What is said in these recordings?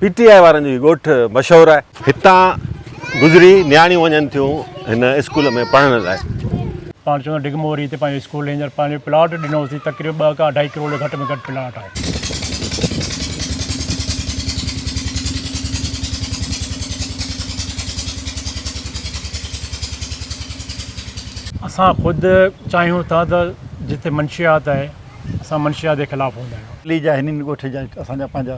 P T I وارن جو هي ڳوٺ مشهور آهي. هتان گذري نياڻيون وڃن ٿيون هن اسڪول ۾ پڙهڻ لاء. پاڻ چوندو ڊگهه موري هتي پنهنجو اسڪول هينئر پنهنجو پلاٽ ڏنو هوسين تقريبن ٻه کان اڍائي ڪروڙ جو گهٽ ۾ گهٽ پلاٽ آهي. اسان خود چاهيون ٿا ته جتي منشيات آهي اسان منشيات جي خلاف هوندا آهيون. علي جا هنن ڳوٺ جا اسان جا پنهنجا.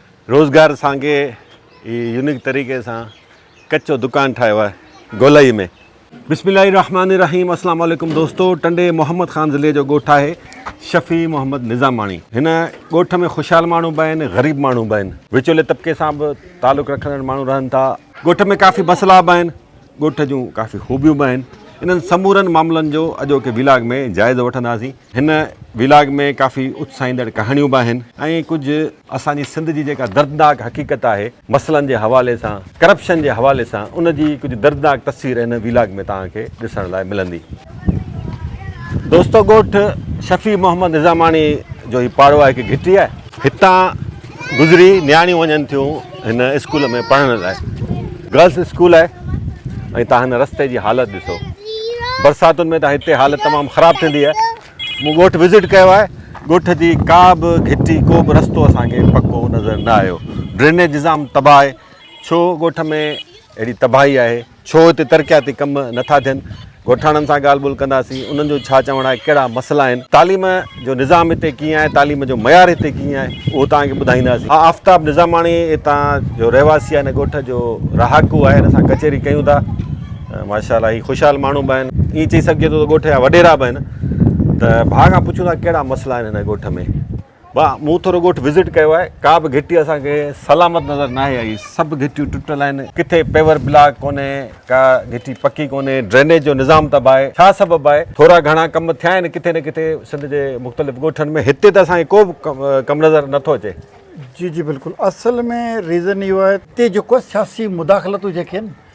روزگار سانگي هي يونيڪ طريقي سان ڪچو دڪان ٺاهيو آهي گولائي ۾. بسم الله الرحمٰن الرحيم اسلام عليڪم دوستو ٽنڊي محمد خان ضلعي جو ڳوٺ آهي شفيع محمد نظاماڻي هن ڳوٺ ۾ خوشحال ماڻهو به آهن غريب ماڻهو به آهن وچولي طبقي سان به تعلق رکندڙ ماڻهو رهن ٿا ڳوٺ ۾ ڪافي بسلا به آهن ڳوٺ جون ڪافي خوبيون به آهن. انهن سمورن معاملن جو اڄوڪي ويلاگ ۾ جائزو وٺنداسين. هن ويلاگ ۾ ڪافي اتساهيندڙ ڪهاڻيون به آهن ۽ ڪجهه اسان جي سنڌ جي جيڪا دردناڪ حقيقت آهي مسئلن جي حوالي سان ڪرپشن جي حوالي سان ان جي ڪجهه دردناڪ تصوير هن ويلاگ ۾ توهان کي ڏسڻ لاء ملندي. دوستو ڳوٺ شفيع محمد نظاماڻي جو هي پاڙو آهي هڪ گهٽي آهي. هتان گذري نياڻيون وڃن ٿيون هن اسڪول ۾ پڙهڻ لاء گرلس اسڪول آهي ۽ تان هن رستي جي حالت ڏسو برساتن ۾ تان هتي حالت تمام خراب ٿيندي آهي مون ڳوٺ وزٽ ڪيو آهي ڳوٺ جي ڪا به گهٽي ڪو به رستو اسان کي پڪو نظر نه آيو ڊرينيج نظام تباهه آهي ڇو ڳوٺ ۾ اهڙي تباهي آهي ڇو هتي ترقياتي ڪم نٿا ٿين؟ ڳوٺاڻن سان ڳالهه ٻولهه ڪنداسين، انهن جو ڇا چوڻ آهي، ڪهڙا مسئلا آهن؟ تعليم جو نظام هتي ڪيئن آهي، تعليم جو معيار هتي ڪيئن آهي، اهو توهان کي ٻڌائينداسين. آء آفتاب نظاماڻي هتان جو رهواسي آهي، هن ڳوٺ جو رهاڪو آهي، هن سان ڪچهري ڪيون ٿا. ماشاء الله هي خوشحال ماڻهو به آهن، ائين چئي سگهجي ٿو ته ڳوٺ جا وڏيرا به آهن، ته ڀاء کان پڇون ٿا ڪهڙا مسئلا آهن هن ڳوٺ ۾، ڀا مون ٿورو ڳوٺ وزٽ ڪيو آهي ڪا به گهٽي اسان کي سلامت نظر ناهي آئي سڀ گهٽيون ٽٽل آهن ڪٿي پيور بلاڪ ڪونهي ڪا گهٽي پڪي ڪونهي ڊرينيج جو نظام تباهه آهي ڇا سبب آهي ٿورا گهڻا ڪم ٿيا آهن ڪٿي نه ڪٿي سنڌ جي مختلف ڳوٺن ۾ هتي ته اسان کي ڪو به ڪم نظر نه ٿو اچي. جي جي بلڪل اصل ۾ ريزن اهو آهي. تي جيڪو سياسي مداخلتون جيڪي آهن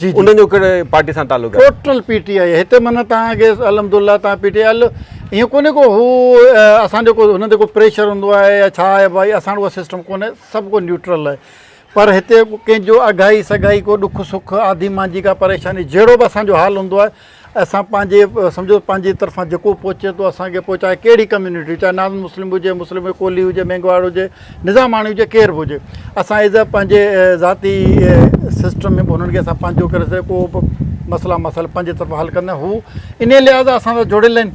جي جي انهن جو ڪهڙي پارٽي سان تعلق آهي ٽوٽل پي ٽي آئي هتي معنيٰ تان اڳي الحمد الله تان پي ٽي آئي ايئن ڪونهي ڪو هو اسان جو ڪو هن تي ڪو پريشر هوندو آهي يا ڇا آهي بھائي اسان وٽ سسٽم ڪونهي سڀ ڪو نيوٽرل آهي پر هتي ڪنهن جو اگھائي سگھائي ڪو ڏک سک آڌي مانجي ڪا پريشاني جهڙو به اسان جو حال هوندو آهي اسان پنهنجي سمجهو پنهنجي طرفان جيڪو پهچي ٿو اسان کي پهچائي ڪهڙي ڪميونٽي چاهي نان مسلم هجي مسلم هجي ڪولهي هجي مينگهواڙ هجي نظاماڻي هجي ڪير به هجي اسان ايز اي پنهنجي ذاتي سسٽم ۾ به هنن کي اسان پنهنجو ڪري سڏي ڪو به مسئلا مسائل پنهنجي طرفان حل ڪندا هو انهي لحاظ اسان سان جڙيل آهن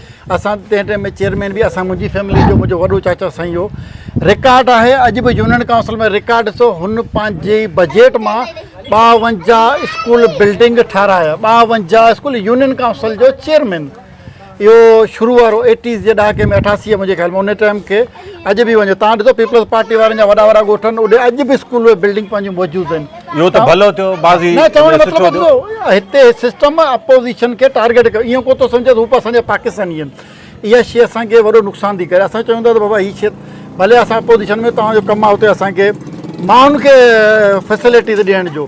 اسان تنهن ٽيم ۾ چيئرمين به اسان منهنجي فيملي جو منهنجو وڏو چاچا سائين هو رڪارڊ آهي اڄ به يونين ڪائونسل ۾ رڪارڊ ڏسو هن پنهنجي بجيٽ مان ٻاونجاهه اسڪول بلڊنگ ٺارايا ٻاونجاهه اسڪول يونين ڪائونسل جو چيئرمين اهو شروع وارو ايٽيز جي ڏهاڪي ۾ اٺاسي منهنجي خيال ۾ ان ٽيم کي اڄ به وڃو تان ڏسو پيپلز پارٽي وارن جا وڏا وڏا ڳوٺ آهن اوڏي اڄ به اسڪول ۽ بلڊنگ پنهنجون موجود آهن اهو ته ڀلو ٿيو بعضي نه چوڻ جو مطلب ڏسو هتي سسٽم اپوزيشن کي ٽارگيٽ ڪيو ايئن ڪو ٿو سمجهي ته هو اسان جا پاڪستاني آهن اها شي اسان کي وڏو نقصان ٿي ڪري اسان چون ٿا ته بابا هي شي ڀلي اسان اپوزيشن ۾ تنهنجو ڪم آهي اتي اسان کي ماڻهن کي فيسلٽيز ڏيڻ جو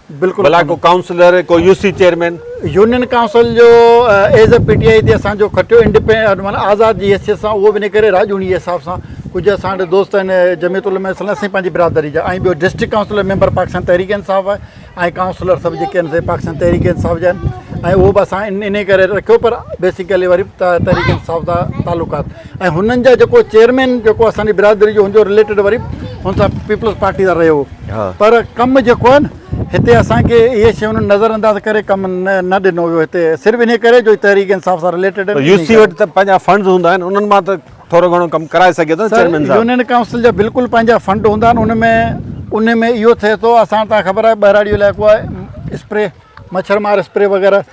بلا ڪو ڪائونسلر ڪو U C chairman. Union council جو as a P T I تي اسان جو کٽيو انڊيپينڊ معنيٰ آزاد جي حيثيت سان اهو به ان ڪري راڄوڻي جي حساب سان ڪجهه اسان وٽ دوست آهن جميعت علماء اسلام سائين پنهنجي برادري جا ۽ ٻيو district councillor member Pakistan Tehreek Insaf آهي ۽ ڪائونسلر سڀ جيڪي آهن سي پاڪستان تحريڪ انصاف جا آهن ۽ اهو به اسان ان ان ڪري رکيو پر بيسڪلي وري تحريڪ انصاف جا تعلقات ۽ هنن جا جيڪو چيئرمين جيڪو اسان جي برادري جو هوندو رليٽيڊ وري هن سان پيپلز پارٽي سان رهيو هو پر ڪم جيڪو آهي نه هتي اسان کي اهي شيون نظر انداز ڪري ڪم نه ڏنو ويو هتي صرف انهي ڪري جو تحريڪ انصاف سان رليٽيڊ آهن يو سي وٽ ته پنهنجا فنڊز هوندا آهن انهن مان ته ٿورو گهڻو ڪم ڪرائي سگهي ٿو چيئرمين صاحب يونين ڪائونسل جا بلڪل پنهنجا فنڊ هوندا آهن ان ۾ ان ۾ اهو ٿئي ٿو اسان ته خبر آهي ٻهراڙي جو علائقو آهي اسپري مڇر مار اسپري وغيره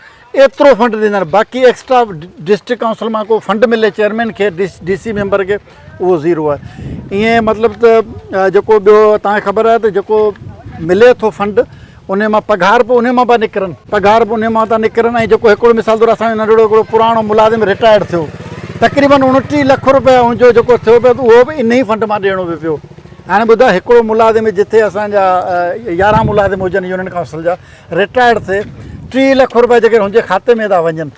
ايترو فنڊ ڏيندڙ باقي ايڪسٽرا ڊسٽرڪٽ ڪائونسل مان ڪو فنڊ ملي چيئرمين کي ڊي سي ميمبر کي اهو زيرو آهي ائين مطلب ته جيڪو ٻيو تان خبر آهي ته جيڪو ملي ٿو فنڊ ان مان پگهار به ان مان پيا نڪرن پگهار به ان مان ٿا نڪرن ۽ جيڪو هڪڙو مثال طور اسان جو ننڍڙو هڪڙو پراڻو ملازم رٽائرڊ ٿيو تقريبن اوڻٽيهه لک روپيا ان جو جيڪو ٿيو پيو اهو به انهي فنڊ مان ڏيڻو به پيو هاڻي ٻڌاء هڪڙو ملازم جتي اسان جا يارهن ملازم هجن يونين ڪائونسل جا رٽائرڊ ٿئي ٽيهه لک روپيا جيڪڏهن هن جي کاتي ۾ ٿا وڃن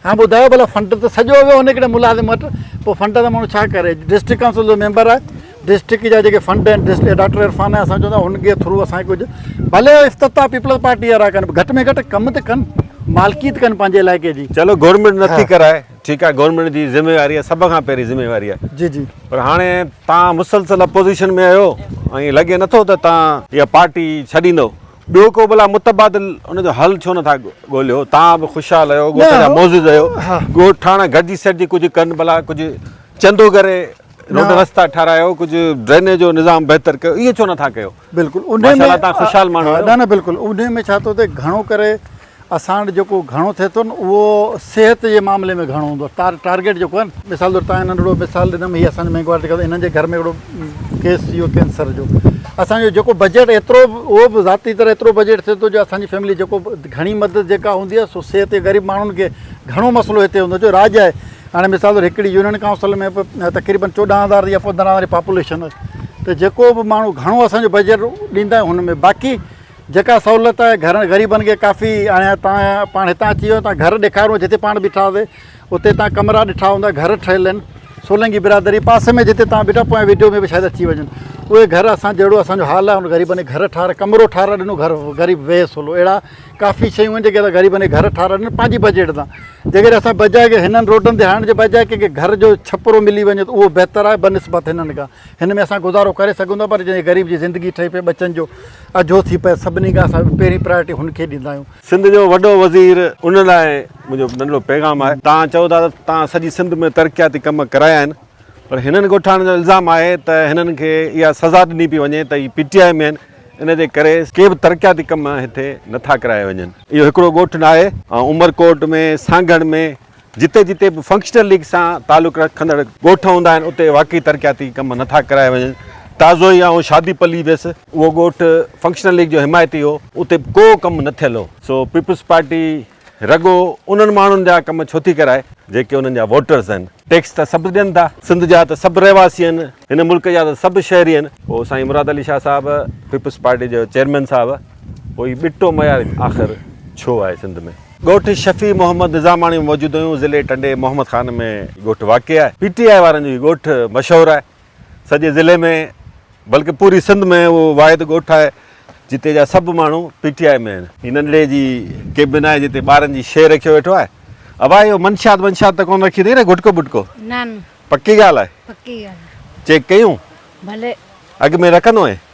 هاڻي ٻڌايو ڀلا فنڊ ته سڄو ويو هن هڪڙي ملازم وٽ پوء فنڊ سان ماڻهو ڇا ڪري ڊسٽرڪٽ ڪائونسل جو ميمبر آهي ڊسٽرڪٽ جا جيڪي فنڊ آهن ڊسٽرڪٽ ڊاڪٽر عرفان آهي اسان چوندا هن جي ٿرو اسان ڪجهه ڀلي افتتاح پيپلز پارٽي وارا ڪن گهٽ ۾ گهٽ ڪم ته ڪن مالڪي ته ڪن پنهنجي علائقي جي چلو گورنمنٽ نٿي ڪرائي ٺيڪ آهي گورنمنٽ جي ذميواري آهي سڀ کان پهرين ذميواري آهي جي جي پر هاڻي تان مسلسل اپوزيشن ۾ آهيو ۽ لڳي نٿو ته تان اها پارٽي ڇڏيندو ٻيو ڪو ڀلا متبادل ان جو حل ڇو نٿا ڳوليو؟ توهان به خوشحال رهيو، ڳوٺ جا معزز رهيو، ڳوٺ ٺاڻا گڏجي سڏجي ڪجهه ڪن ڀلا، ڪجهه چندو ڪري روڊ رستا ٺارايو، ڪجهه ڊرينيج جو نظام بهتر ڪيو، اهو ڇو نٿا ڪيو؟ بلڪل ان ۾ ماشاءالله توهان خوشحال ماڻهو آهيو. نه نه بلڪل ان ۾ ڇا ٿو ٿئي گهڻو ڪري اسان وٽ جيڪو گهڻو ٿئي ٿو نه اهو صحت جي معاملي ۾ گهڻو هوندو آهي ٽارگيٽ جيڪو آهي نه مثال طور تان ننڍڙو مثال ڏنم هي اسان جي مينگهه واري ٽڪا هنن جي گهر ۾ هڪڙو ڪيس ٿي ويو ڪينسر جو اسان جو جيڪو بجيٽ ايترو به اهو به ذاتي طرح ايترو بجيٽ ٿئي ٿو جو اسان جي فيملي جيڪو به گهڻي مدد جيڪا هوندي آهي سو صحت جي غريب ماڻهن کي گهڻو مسئلو هتي هوندو جو راڄ آهي هاڻي مثال طور هڪڙي يونين ڪائونسل ۾ به تقريبن چوڏهن هزار يا پندرهن هزار پاپوليشن آهي ته جيڪو به ماڻهو گهڻو اسان جو بجيٽ ڏيندا آهيون هن ۾ باقي جيڪا سهولت گهر غريبن کي ڪافي هاڻي تان پاڻ هتان اچي ويو تان گهر ڏيکارو جتي پاڻ بيٺا هئا سي اتي تان ڪمرا ڏٺا هوندا گهر ٺهيل آهن سولنگي برادري پاسي ۾ جتي تان بيٺا پوء ويڊيو ۾ به شايد اچي وڃن اهي گهر اسان جهڙو اسان جو حال آهي ان غريبن کي گهر ٺار ڪمرو ٺار ڏنو گهر غريب ويهي سولو اهڙا ڪافي شيون آهن جيڪي اسان غريبن کي گهر ٺار ڏنو پنهنجي بجيٽ تان جيڪڏهن اسان بجائي ڪي هنن روڊن تي هڻڻ جي بجائي ڪي گهر جو ڇپرو ملي وڃي ته اهو بهتر آهي بنسبت هنن کان هن ۾ اسان گذارو ڪري سگهون ٿا پر جنهن غريب جي زندگي ٺهي پئي ٻچن جو اجهو ٿي پئي سڀني کان اسان پهرين پرايورٽي هن کي ڏيندا آهيون. سنڌ جو وڏو وزير ان لاء منهنجو ننڍڙو پيغام آهي توهان چئو ٿا ته توهان سڄي سنڌ ۾ ترقياتي ڪم ڪرايا آهن پر هنن ڳوٺاڻن جو الزام آهي ته هنن کي اها سزا ڏني پئي وڃي ته هي پي ٽي آء ۾ آهن ان جي ڪري ڪي به ترقياتي ڪم هتي نٿا ڪرايا وڃن اهو هڪڙو ڳوٺ ناهي ۽ عمرڪوٽ ۾ سانگهڙ ۾ جتي جتي به فنڪشنل ليگ سان تعلق رکندڙ ڳوٺ هوندا آهن اتي واقعي ترقياتي ڪم نه ٿا ڪرايا وڃن، تازو ئي آئون شادي پلي ويس، اهو ڳوٺ فنڪشنل ليگ جو حمايتي هو، اتي به ڪو ڪم نه ٿيل هو، سو پيپلز پارٽي رڳو انهن ماڻهن جا ڪم ڇو ٿي ڪرائي جيڪي انهن جا ووٽرز آهن. ٽيڪس ته سڀ ڏين ٿا، سنڌ جا ته سڀ رهواسي آهن، هن ملڪ جا ته سڀ شهري آهن. پوء سائين مراد علي شاهه صاحب پيپلز پارٽي جو چيئرمين صاحب پوء هي ٻٽو معيار آخر ڇو آهي سنڌ ۾؟ ڳوٺ شفيع محمد نظاماڻي ۾ موجود آهيون ضلعي ٽنڊي محمد خان ۾ هي ڳوٺ واقع آهي پي ٽي آء وارن جو هي ڳوٺ مشهور آهي سڄي ضلعي ۾ بلڪه پوري سنڌ ۾ اهو واحد ڳوٺ آهي جتي جا سڀ ماڻهو پي ٽي آء ۾ آهن. هي ننڍڙي جي ڪيبن آهي جتي ٻارن جي شيء رکيو ويٺو آهي ابا اهو منشيات ونشيات ته ڪونه رکي اٿئي نه گٽڪو بٽڪو نه نه پڪي ڳالهه آهي پڪي ڳالهه چيڪ ڪيون ڀلي اڳ ۾ رکندو هئين.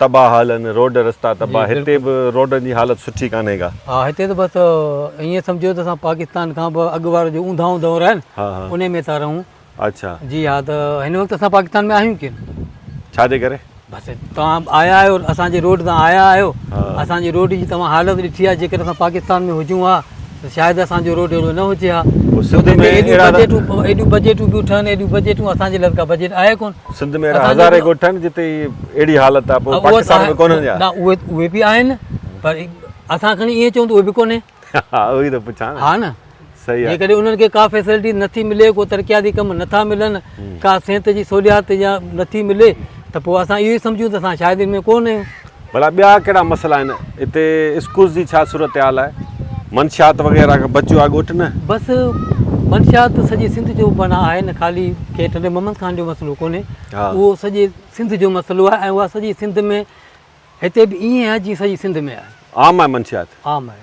تباهه حال آهن روڊ رستا تباهه هتي به روڊن جي حالت سٺي ڪانهي ڪا. ها هتي ته بس ائين سمجهو ته اسان پاڪستان کان به اڳ وارو جو اونداهون دور آهي نه انهي ۾ ٿا رهون. اڇا. جي ها ته هن وقت اسان پاڪستان ۾ آهيون ڪين. ڇا جي ڪري؟ بس توهان آيا آهيو اسان جي روڊ تان آيا آهيو اسان جي روڊ جي توهان حالت ڏٺي آهي جيڪڏهن اسان پاڪستان ۾ هجون ها. ته شايد اسان جو روڊ اهڙو نه هجي ها. پوء سنڌ ۾ اهڙا ته. ايڏيون بجيٽون بيون ٺهن، ايڏيون بجيٽون، اسان جي لفظ ڪا بجيٽ آهي ڪونه. سنڌ ۾ اهڙا هزارين ڳوٺ آهن جتي اهڙي حالت آهي پوء پاڪستان ۾ ڪونهن ڇا؟ نه اهي به آهن نه پر اسان کڻي ائين چئون ته اهي به ڪونهن. ها اهو ئي ته پڇان نه. ها نه. صحيح آهي. جيڪڏهن انهن کي ڪا فيسلٽي نٿي ملي، ڪو ترقياتي ڪم نٿا ملن، ڪا صحت جي سهوليات يا نٿي ملي ته پوء اسان اهو ئي سمجهون ته اسان شايد ان ۾ ڪونهن آهيون. ڀلا ٻيا ڪهڙا مسئلا آهن هتي اسڪولز جي ڇا صورتحال آهي منشيات وغيره کان بچيو آهي ڳوٺ نه. بس منشيات سڄي سنڌ جو بنا آهي نه خالي ڪي ٽنڊي محمد خان جو مسئلو ڪونهي اهو سڄي سنڌ جو مسئلو آهي ۽ اها سڄي سنڌ ۾ هتي به ائين آهي جي سڄي سنڌ ۾ آهي عام آهي منشيات عام آهي.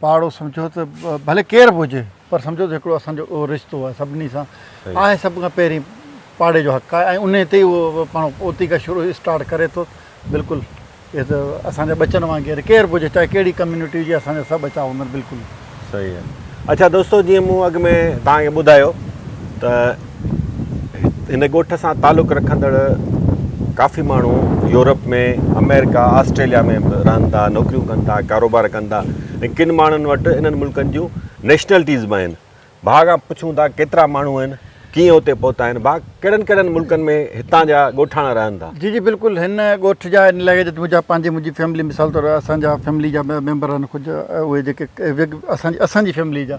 پاڙو سمجهو ته ڀلي ڪير به هجي پر سمجهو ته هڪڙو اسان جو اهو رشتو آهي سڀني سان آهي سڀ کان پهرين پاڙي جو حق آهي ۽ انهي تي ئي اهو پاڻ اوتي کان شروع اسٽارٽ ڪري ٿو بلڪل اهي ته اسان جا ٻچن وانگر ڪير به هجي چاهي ڪهڙي ڪميونٽي جي اسان جا سڀ ٻچا هوندا آهن بلڪل صحيح آهي اڇا دوستو جيئن مون اڳ ۾ توهان کي ٻڌايو ته هن ڳوٺ سان تعلق رکندڙ ڪافي ماڻهو يورپ ۾ آمريڪا آسٽريليا ۾ به رهن ٿا نوڪريون ڪن ٿا ڪاروبار ڪن ٿا ۽ ڪن ماڻهن وٽ انهن ملڪن جون نيشنلٽيز به آهن ڀاء کان پڇون ٿا ڪيترا ماڻهو آهن ڪيئن اتي پهتا آهن ڀاء ڪهڙن ڪهڙن ملڪن ۾ هتان جا ڳوٺاڻا رهن ٿا جي جي بلڪل هن ڳوٺ جا ان لحاظ منهنجا پنهنجي منهنجي فيملي مثال طور اسان جا فيملي جا ميمبر آهن ڪجهه اهي جيڪي اسان جي اسان جي فيملي جا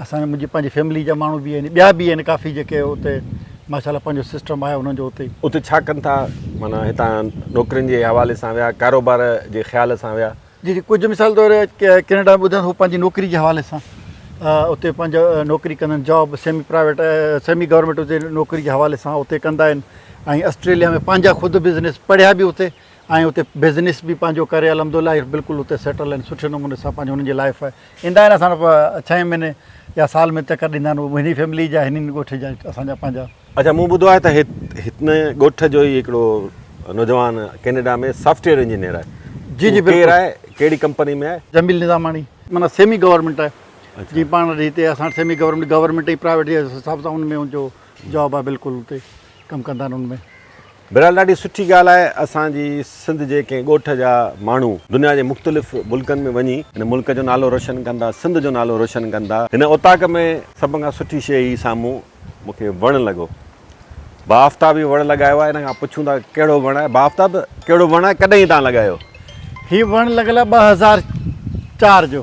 اسان منهنجي پنهنجي فيملي جا ماڻهو به آهن ٻيا به آهن ڪافي جيڪي اتي ماشاء الله پنهنجو سسٽم آهي انهن جو اتي. اتي ڇا ڪن ٿا معنيٰ هتان نوڪرين جي حوالي سان ويا ڪاروبار جي خيال سان ويا. جي جي ڪجهه مثال طور ڪينيڊا ۾ ٻڌن هو پنهنجي نوڪري جي حوالي سان اتي پنهنجو نوڪري ڪندا آهن job semi private semi government اتي نوڪري جي حوالي سان اتي ڪندا آهن ۽ آسٽريليا ۾ پنهنجا خود بزنس پڙهيا به اتي ۽ اتي بزنس به پنهنجو ڪري الحمد لله بلڪل اتي سيٽل آهن سٺي نموني سان پنهنجو انهن جي لائف آهي ايندا آهن اسان وٽ ڇهين مهيني يا سال ۾ چڪر ڏيندا آهن هني فيملي جا هني ڳوٺ جا اسان جا پنهنجا. اچا مون ٻڌو آهي ته هن ڳوٺ جو ئي هڪڙو نوجوان ڪينيڊا ۾ سافٽويئر انجنيئر آهي. جي جي بلڪل. ڪير آهي ڪهڙي ڪمپني ۾ آهي. جميل نظاماڻي معنيٰ سيمي گورنمينٽ آهي جي پاڻ وٽ هتي اسان وٽ سيمي گورنمينٽ گورنمينٽ ۽ پرائيويٽ جي حساب سان ان ۾ ان جو جاب آهي بلڪل هتي. ڪم ڪندا آهن ان ۾. بهرحال ڏاڍي سٺي ڳالهه آهي اسان جي سنڌ جي ڪنهن ڳوٺ جا ماڻهو دنيا جي مختلف ملڪن ۾ وڃي هن ملڪ جو نالو روشن ڪندا سنڌ جو نالو روشن ڪندا هن اوطاق ۾ سڀ کان سٺي شي هي سامهون مون کي وڻ لڳو باآفتاب هي وڻ لڳايو آهي هن کان پڇون ٿا ڪهڙو وڻ آهي باآفتاب ڪهڙو وڻ آهي ڪڏهن تان لڳايو هي وڻ لڳل آهي ٻه هزار چار جو.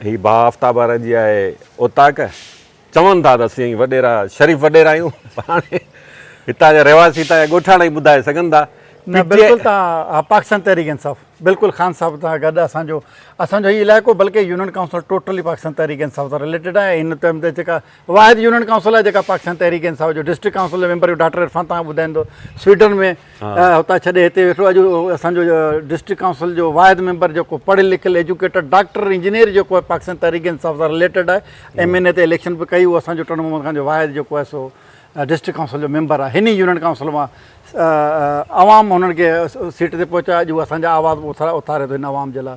هي با آفتاب وارن جي آهي اوطاق. چون ٿا ته اسين وڏيرا شريف وڏيرا آهيون پر هاڻي هتان جا رهواسي هتان جا ڳوٺاڻا ئي ٻڌائي سگهن ٿا. نه بلڪل توهان پاڪستان تحريڪ انصاف بلڪل خان صاحب سان گڏ اسان جو اسان جو هي علائقو بلڪه union council totally Pakistan Tehreek Insaf سان رليٽيڊ آهي ۽ هن ٽائيم تي جيڪا واحد يونين ڪائونسل آهي جيڪا پاڪستان تحريڪ انصاف جو ڊسٽرڪٽ ڪائونسل جو ميمبر ڊاڪٽر عرفان تان ٻڌائين ٿو سويڊن ۾ هتان ڇڏي هتي ويٺو اڄ اسان جو ڊسٽرڪٽ ڪائونسل جو واحد ميمبر جيڪو پڙهيل لکيل ايجوڪيٽر ڊاڪٽر انجنيئر جيڪو آهي پاڪستان تحريڪ انصاف سان رليٽيڊ آهي ايم اين اي تي اليڪشن به ڪئي هو اسان جو ٽنڊو محمد خان جو واحد جيڪو آهي سو ڊسٽرڪٽ ڪائونسل جو ميمبر آهي هن يونين ڪائونسل مان عوام هنن کي سيٽ تي پهچايو اڄ هو اسان جا آواز اٿاري ٿو هن عوام جي لاء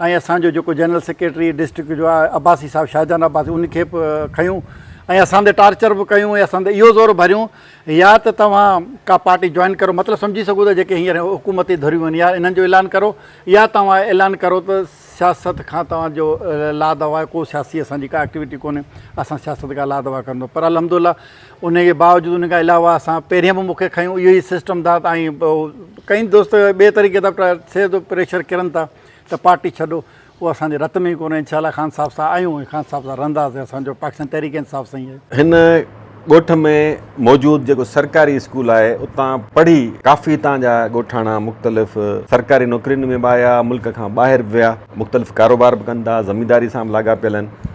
۽ اسان جو جيڪو جنرل سيڪريٽري ڊسٽرڪٽ جو آهي عباسي صاحب شاهجهان عباسي ان کي به کنيون ۽ اسان تي ٽارچر به ڪيون ۽ اسان تي اهو زور ڀريون يا ته توهان ڪا پارٽي جوائن ڪرو مطلب سمجهي سگهو ٿا جيڪي هينئر حڪومتي ڌريون آهن يا انهن جو اعلان ڪرو يا توهان اعلان ڪرو ته سياست کان توهان جو لا دوا آهي ڪو سياسي اسان جي ڪا ايڪٽيوٽي ڪونهي اسان سياست کان لا دوا ڪندو پر الحمدالله انهيء جي باوجود ان کان علاوه اسان پهرين به موقعي کانئي اهو ئي سسٽم ٿا ۽ ڪئين دوست ٻئي طريقي سان ٿئي ٿو پريشر ڪرن ٿا ته پارٽي ڇڏو اهو اسان جي رت ۾ ئي ڪونهي انشاء الله خان صاحب سان آهيون ۽ خان صاحب سان رهنداسين اسان جو پاڪستان تحريڪ انصاف سان ئي آهي. هن ڳوٺ ۾ موجود جيڪو سرڪاري اسڪول آهي اتان پڙهي ڪافي هتان جا ڳوٺاڻا مختلف سرڪاري نوڪرين ۾ به آيا ملڪ کان ٻاهر به ويا مختلف ڪاروبار به ڪن ٿا زمينداري سان به لاڳاپيل آهن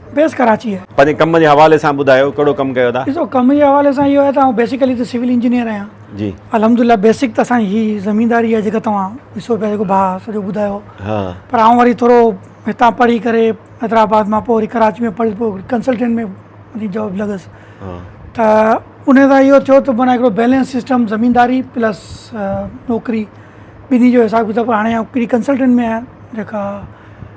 بيس ڪراچي آهي. پنهنجي ڪم جي حوالي سان ٻڌايو ڪهڙو ڪم ڪيو ٿا؟ ڏسو ڪم جي حوالي سان اهو آهي ته آئون بيسيڪلي ته سول انجنيئر آهيان. جي. الحمدالله بيسڪ ته اسان جي هي زمينداري آهي جيڪا توهان ڏسو پيا جيڪو ڀاء سڄو ٻڌايو. ها. پر آئون وري ٿورو هتان پڙهي ڪري حيدرآباد مان پوء وري ڪراچي ۾ پڙهي پوء ڪنسلٽنٽ ۾ وڃي جاب لڳس. ها. ته ان سان اهو ٿيو ته معنيٰ هڪڙو بيلنس سسٽم زمينداري پلس نوڪري ٻنهي جو حساب ڪتاب هاڻي آئون ڪنسلٽنٽ ۾ آهيان جيڪا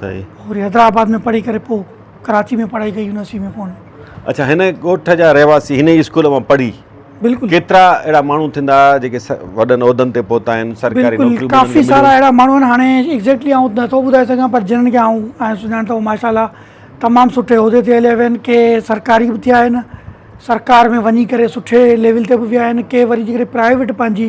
سائين پوء وري حيدرآباد ۾ پڙهي ڪري پوء ڪراچي ۾ پڙهائي ڪئي يونيورسٽي ۾ پون. اڇا هن ڳوٺ جا رهواسي هن ئي اسڪول مان پڙهي بلڪل ڪيترا اهڙا ماڻهو ٿيندا جيڪي وڏن عهدن تي پهتا آهن سرڪاري بلڪل نوڪريون ڪافي ملن سارا مليون اهڙا ماڻهو آهن هاڻي ايگزيڪٽلي آئون نٿو ٻڌائي سگهان پر جنهن کي آئون آئون سڃاڻان ٿو ماشاء الله تمام سٺي عهدي تي هليا ويا آهن ڪي سرڪاري به ٿيا آهن سرڪار ۾ وڃي ڪري سٺي ليول تي به ويا آهن ڪي وري جيڪڏهن پرائيويٽ پنهنجي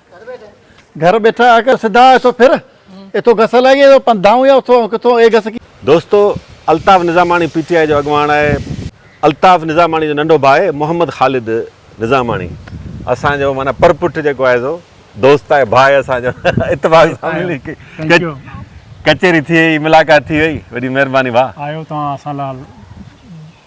گهر ٻيٺا آ ڪر سڌا اٿو ڦر اٿو گس لائي اٿو پنڌائون يا اٿو ڪٿو اي گس ڪي. دوستو Altaf Nizamani P T I جو اڳواڻ آهي. الطاف نظاماڻي جو ننڍو ڀاء آهي محمد خالد نظاماڻي اسان جو معنيٰ پر پٺ جيڪو آهي سو دوست آهي ڀاء اسان جو اتفاق سان ملي ڪچهري ٿي وئي ملاقات ٿي وئي وڏي مهرباني ڀاء. آيو توهان اسان لاء.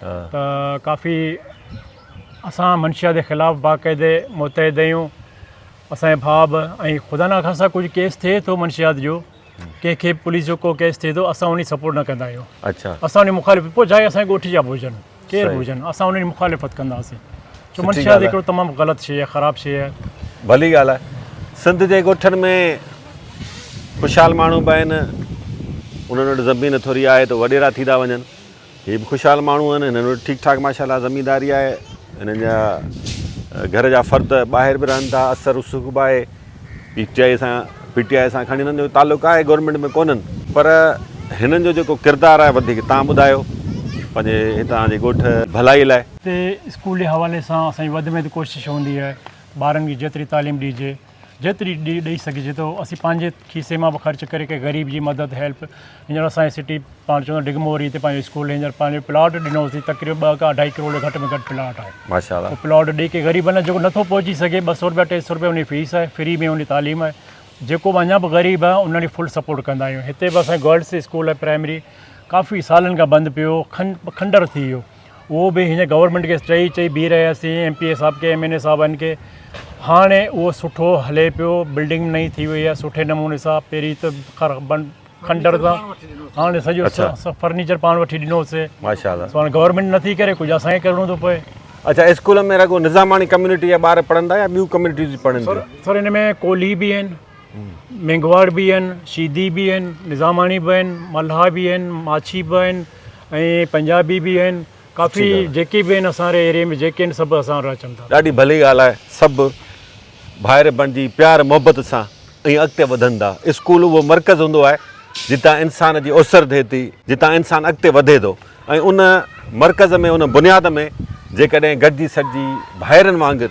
ته ڪافي اسان منشيات جي خلاف باقاعدي متحد آهيون اسانجي ڀاء به ۽ خدا نه خاصا ڪجهه ڪيس ٿئي ٿو منشيات جو ڪنهن کي پوليس جو ڪو ڪيس ٿئي ٿو اسان ان جي سپورٽ نه ڪندا آهيون اچھا اسان ان مخالف پوء چاهي اسان ڳوٺ جا به هجن ڪير به هجن اسان ان جي مخالفت ڪنداسين ڇو منشيات هڪڙو تمام غلط شيء آهي خراب شيء آهي ڀلي ڳالهه آهي سنڌ جي ڳوٺن ۾ خوشحال ماڻهو به آهن انهن وٽ زمين ٿوري آهي ته وڏيرا ٿي ٿا وڃن هي به خوشحال ماڻهو آهن هنن وٽ ٺيڪ ٺاڪ ماشاءالله زمينداري آهي هنن جا گهر جا فرد ٻاهر به رهن ٿا اثر رسوخ به آهي پي ٽي آء سان پي ٽي آء سان کڻي هنن جو تعلق آهي گورنمينٽ ۾ ڪونهن پر هنن جو جيڪو ڪردار آهي وڌيڪ تان ٻڌايو پنهنجي هتان جي ڳوٺ ڀلائي لاء. هتي اسڪول جي حوالي سان اسان جي وڌ ۾ وڌ ڪوشش هوندي آهي ٻارن کي جيتري تعليم ڏجي. جيتري به ڏئي سگهجي ٿو اسين پنهنجي کيسي مان به خرچ ڪري ڪنهن غريب جي مدد هيلپ هينئر اسان جي سٽي پاڻ چوندو ڊگموري تي پنهنجو اسڪول هينئر پنهنجو پلاٽ ڏنوسي تقريبن ٻه کان اڍائي ڪروڙ جو گهٽ ۾ گهٽ پلاٽ آهي ماشاء الله پلاٽ ڏئي ڪنهن غريب نه جيڪو نٿو پهچي سگهي ٻه سو روپيا ٽي سو روپيا ان جي فيس آهي فري ۾ ان جي تعليم آهي جيڪو به اڃا به غريب آهي ان ڏي فل سپورٽ ڪندا آهيون هتي به اسان جي گرلس اسڪول آهي پرائمري ڪافي سالن کان بند پيو هو کن کنڊر ٿي ويو اهو به هن گورنمينٽ کي چئي چئي بيهي رهياسين ايم پي اي صاحب کي ايم اين اي صاحبن کي هاڻي اهو سٺو هلي پيو بلڊنگ نئي ٿي وئي آهي سٺي نموني سان پهرين ته کنڊر سان هاڻي سڄو فرنيچر پاڻ وٺي ڏنوسي هاڻي گورنمينٽ نٿي ڪري ڪجهه اسان کي ڪرڻو ٿو پئي اچھا اسڪول ۾ رڳو نظاماڻي ڪميونٽي جا ٻار پڙهن ٿا يا ٻيون ڪميونٽيز پڙهن ٿيون سر ان ۾ ڪولهي به آهن مينگهواڙ به آهن شيدي به آهن نظاماڻي به آهن ملها به آهن ماڇي به آهن ۽ پنجابي به آهن ڪافي جيڪي به آهن اسان ري ايريي ۾ جيڪي آهن سڀ اسان را اچن ٿا. ڏاڍي ڀلي ڳالهه آهي سڀ ڀائر بڻجي پيار محبت سان ائين اڳتي وڌندا اسڪول اهو مرڪز هوندو آهي جتان انسان جي اسر ٿئي ٿي جتان انسان اڳتي وڌي ٿو ۽ ان مرڪز ۾ ان بنياد ۾ جيڪڏهن گڏجي سڏجي ڀائرن وانگر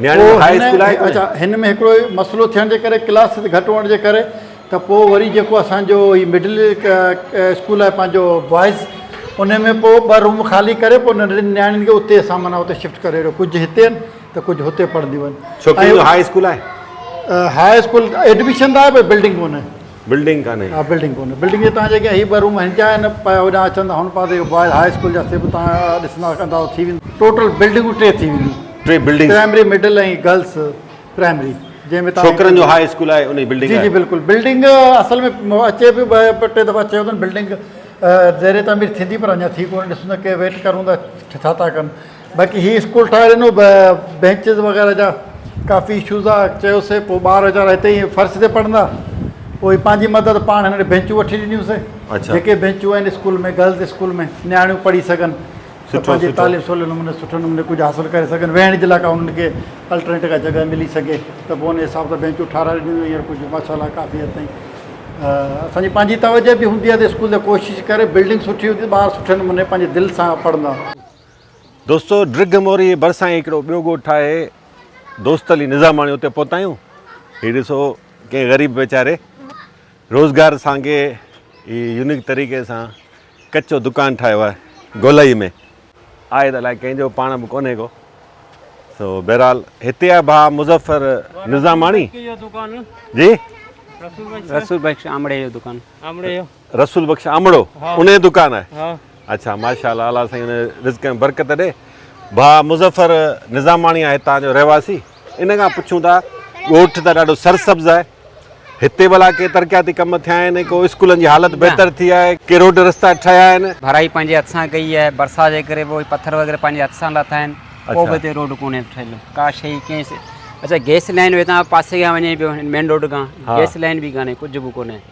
هن ۾ هڪڙو مسئلو ٿيڻ جي ڪري ڪلاس گهٽ هئڻ جي ڪري ته پوء وري جيڪو اسان جو هي مڊل اسڪول آهي پنهنجو بوائز ان ۾ پوء ٻه روم خالي ڪري پوء ننڍڙين نياڻين کي اتي اسان معنيٰ اتي شفٽ ڪري رهيو ڪجهه هتي آهن ته ڪجهه هتي پڙهنديون آهن ها اسڪول ايڊمشن لاء بلڊنگ ڪونهي بلڊنگ ڪانهي. ها بلڊنگ ڪونهي. بلڊنگ جي تان جيڪي هي ٻه روم هن جا آهن پيا هوڏانهن اچن ته هن پاسي جو بوائز هاء اسڪول جا سي به تان ڏسندا ته اندازو ٿي ويندو. ٽوٽل بلڊنگون ٽي ٿي وينديون. ٽي buildings. Primary middle ۽ girls primary جنهن ۾ تان. ڇوڪرن جو هاء اسڪول آهي ان جي بلڊنگ آهي. جي جي بلڪل بلڊنگ اصل ۾ اچي به ٻه ٽي دفعا چيو اٿن بلڊنگ زير تعمير ٿيندي پر اڃا ٿي ڪونهي ڏسون ته ڪي ويٽ ڪرون ته ڇا ٿا ڪن. باقي هي اسڪول ٺاهي ڏنو بينچز وغيره جا ڪافي اشوز آ چيوسي پوء ٻار ويچارا هتي ئي فرش تي پڙهندا پوء پنهنجي مدد پاڻ هن بينچون وٺي ڏنيون سي جيڪي بينچون آهن اسڪول ۾ گرلز اسڪول ۾ نياڻيون پڙهي سگهن ته پنهنجي تعليم سولي نموني سٺي نموني ڪجهه حاصل ڪري سگهن ويهڻ جي لاء ڪا انهن کي الٽرنيٽ ڪا جڳهه ملي سگهي ته پوء ان حساب سان بينچون ٺهرائي ڏنيون ويون هينئر ڪجهه ماشاء الله ڪافي حد تائين اسان جي پنهنجي توجه به هوندي آ ته اسڪول جا ڪوشش ڪري بلڊنگ سٺي هوندي ٻار سٺي نموني پنهنجي دل سان پڙهندا دوستو ڊگهه موري جي ڀرسان ئي هڪڙو ٻيو ڳوٺ آهي دوست علي نظاماڻي اتي پهتا آهيون هي ڏسو ڪنهن غريب ويچاري روزگار سانگي هي يونيڪ طريقي سان ڪچو دڪان ٺاهيو آهي گولائي ۾ آهي ته الائي ڪنهن جو پاڻ به ڪونهي ڪو سو بهرحال هتي آهي ڀاء مظفر نظاماڻي جي رسول بخش آمڙي جو دڪان آمڙي جو رسول بخش آمڙو ان جي دڪان آهي ها اچھا ماشاءالله الله سائين ان رزق ۾ برڪت ڏي ڀا مظفر نظاماڻي آهي هتان جو رهواسي ان کان پڇون ٿا ڳوٺ ته ڏاڍو سرسبز آهي هتي ڀلا ڪي ترقياتي ڪم ٿيا آهن ڪو اسڪولن جي حالت بهتر ٿي آهي ڪي روڊ رستا ٺهيا آهن ڀرائي پنهنجي هٿ سان ڪئي آهي برسات جي ڪري پوء پٿر وغيره پنهنجي هٿ سان لاٿا آهن ڪو به هتي روڊ ڪونهي ٺهيل ڪا شيء ڪنهن اچھا گئس لائين هتان پاسي کان وڃي پيو مين روڊ کان گئس لائين به ڪانهي ڪجھ به ڪونهي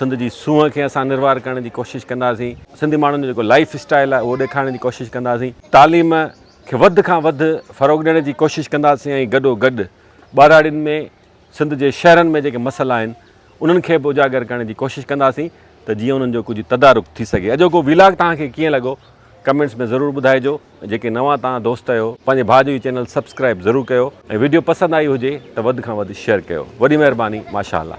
سنڌ جي سونهن کي اسان نروار ڪرڻ جي ڪوشش ڪنداسين. سنڌي ماڻهن جو جيڪو لائيف اسٽائيل آهي اهو ڏيکارڻ جي ڪوشش ڪنداسين. تعليم کي وڌ کان وڌ فروغ ڏيڻ جي ڪوشش ڪنداسين ۽ گڏو گڏ ٻهراڙين ۾ سنڌ جي شهرن ۾ جيڪي مسئلا آهن انهن کي به اجاگر ڪرڻ جي ڪوشش ڪنداسين ته جيئن انهن جو ڪجهه تدارڪ ٿي سگهي. اڄوڪو ويلاگ توهان کي ڪيئن لڳو ڪمينٽس ۾ ضرور ٻڌائجو ۽ جيڪي نوان توهان دوست اهيو پنهنجي ڀاء جو هي چينل سبسڪرائيب ضرور ڪيو ۽ ويڊيو پسند آئي هجي ته وڌ کان وڌ شيئر ڪيو وڏي مهرباني ماشاءالله.